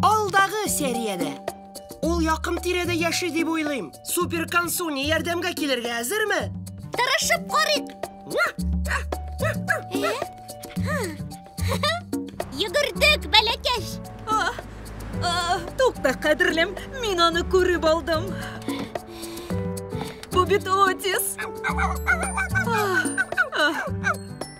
Алдагы сериядә! Ул якын-тирәдә яши дип уйлыйм. Супер консуни ярдәмгә килергә әзерме? Тырышып карыйк! Йөгердек, бәләкәч! Тукта, кадерлем, мин аны күреп алдым. Бу бит Отис.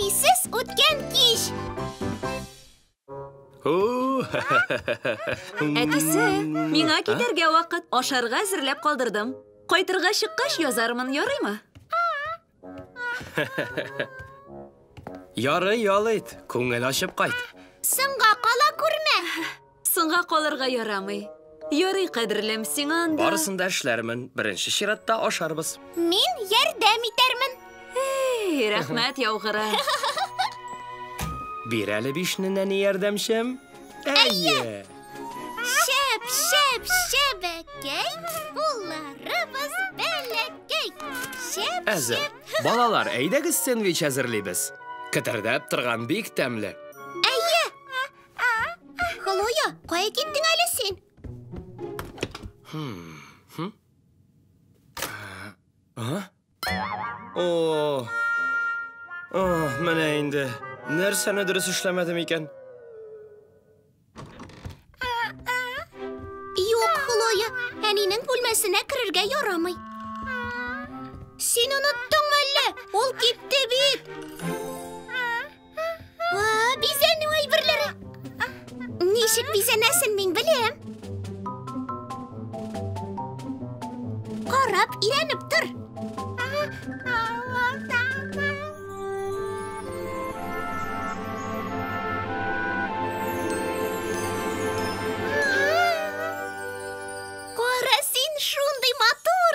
Әнисез үткән кич. Әтисе, миңа китәргә вакыт, ашарга әзерләп калдырдым. Кайтырга чыккач язармын, ярыймы? Ярый, ял ит, күңел ачып кайт. Соңга кала күрмә. Соңга калырга ярамый. Ярый, кадерлем, сиңа анда... Барысын да эшләрмен. Беренче чиратта ашарбыз. Мин ярдәм итәрмен. Эй, рәхмәт, яугыры. Бир әле бишне нәни ярдәмчем. Әйе. Шәп, шәп, шәбәкәй, улларыбыз бәләкәй. Шәп, Әзер. Балалар, әйдәгез сэндвич әзерлибез. Кетердәп торган бик тәмле. Хлоя, кая киттең әле син? О, о, менә инде. Нәрсәне дөрес эшләмәдем икән? Юк, Хлоя, әнинең бүлмәсенә керергә ярамый. Син оныттыңмы әллә? Ул китте бит. Вау, бизәнү әйберләре. Ничек бизәнәсен мин беләм. Карап, ирәнеп тор. Кара син шундый матур.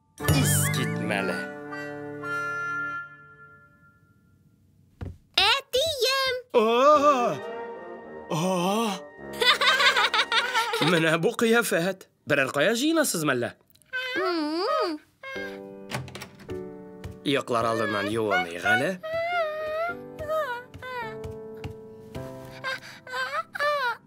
Искитмәле. Әтием! О! О! Менә бу кыяфәт. Берәр кая җыенасыз мәллә? Йоклар алдыннан юыныг әле.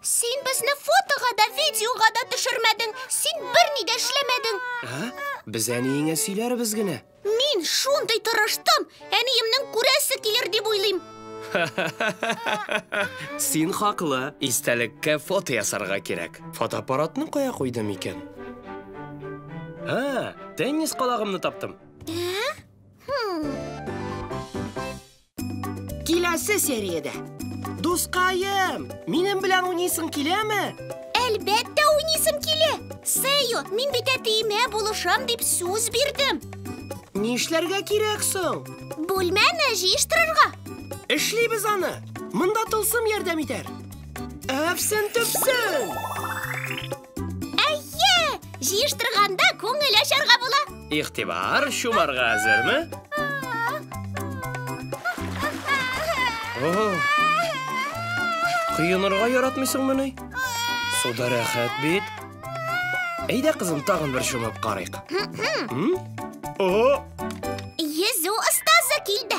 Син безне фотога да, видеога да төшермәдең. Син берни дә эшләмәдең. Ә? Без әниеңә сөйләрбез генә. Мин шундый тырыштым, әниемнең күрәсе килер дип уйлыйм. Син хаклы. Истәлеккә фото ясарга кирәк. Фотоаппаратны кая куйдым икән? Ха, теннис калагымны таптым. Ә? Хм. Киләсе сериядә. Дускаем, минем белән уйныйсың киләме? Әлбәттә уйныйсым килә. Сею, мин бит әтиемә булышам дип сүз бирдем. Нишләргә кирәк соң? Бүлмәне җыештырырга. Эшлибез аны. Монда тылсым ярдәм итәр. Әпсен төпсен! Әйе! Җыештырганда күңел ачарга була. Игътибар, чумарга әзерме? О! Коенырга яратмыйсыңмы ни? Суда рәхәт бит. Әйдә, кызым, тагын бер чумып карыйк. М? О! Йөзү остазы килде.